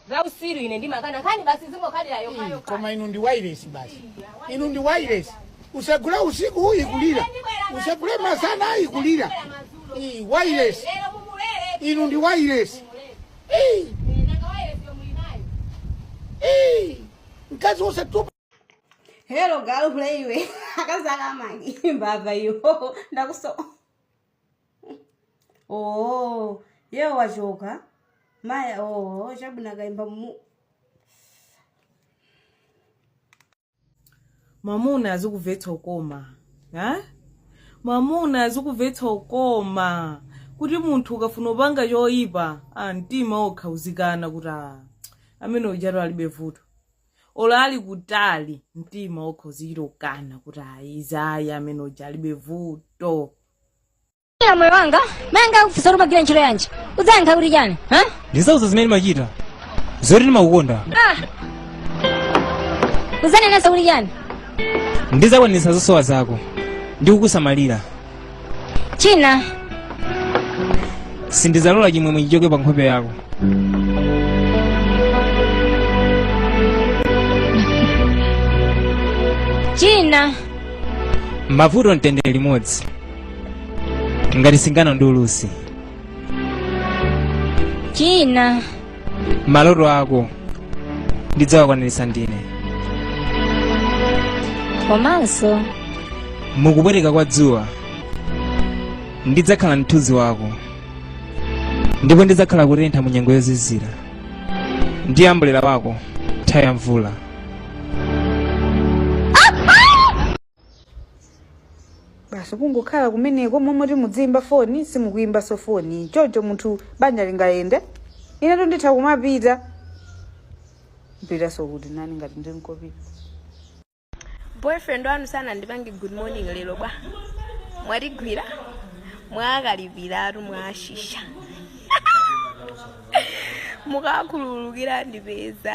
za usiru ine ndimakana nkhani basi zingokhalira Ii, yokhayo koma inu ndi wailesi basi inu ndi wailesi usagule usiku ikulira usagule masana ikulira Ii, wailesi lero mumulere inu ndi wailesi Ii, nanga wailesi mulinayo Ii, mkazi usatupa Hello galu hule iwe akazaka amagi mbava iyo ndakuso oh ye wachoka maya oh chabwino akaimba mu mwamuna azikuvetsa ukoma ha mwamuna azikuvetsa ukoma kuti munthu ukafuna upanga choyipa a mtima wokha uzikana kuti a amene ujatu alibe vuto olo ali kutali mtima wokha uzichita kukana kuti ayizayi amene uja alibe vuto Iya moyo wanga mayi anga akakufunsa kuti umagwira ntchito yanji udzayankha kuti chani ha ndizawauza zimene ndimachita zoti ndimakukonda Ah! udzanenanso kuti chani ndizakwanitsa zosowa zako ndi kukusamalira china sindizalola chimwemwe chichoke pa nkhope yako china pamavuto pamtendere limodzi ngati singano ndi ulusi china maloto ako ndidzawakwaniritsa ndine komanso mukupweteka kwa dzuwa ndidzakhala mthunzi wako ndipo ndidzakhala kutentha mu nyengo yozizira ndi ambulera wako nthawi ya mvula basi kungokhala kumeneko momwe simudziyimba foni simukuyimbanso foni choncho munthu banja lingayende inetu nditha kumapita mpitanso kuti nani ngati ndili nkopita boyfriend wanu sanandipange good morning lero bwa mwatigwira mwakalipiratu mwashisha mukakhululukira ndipeza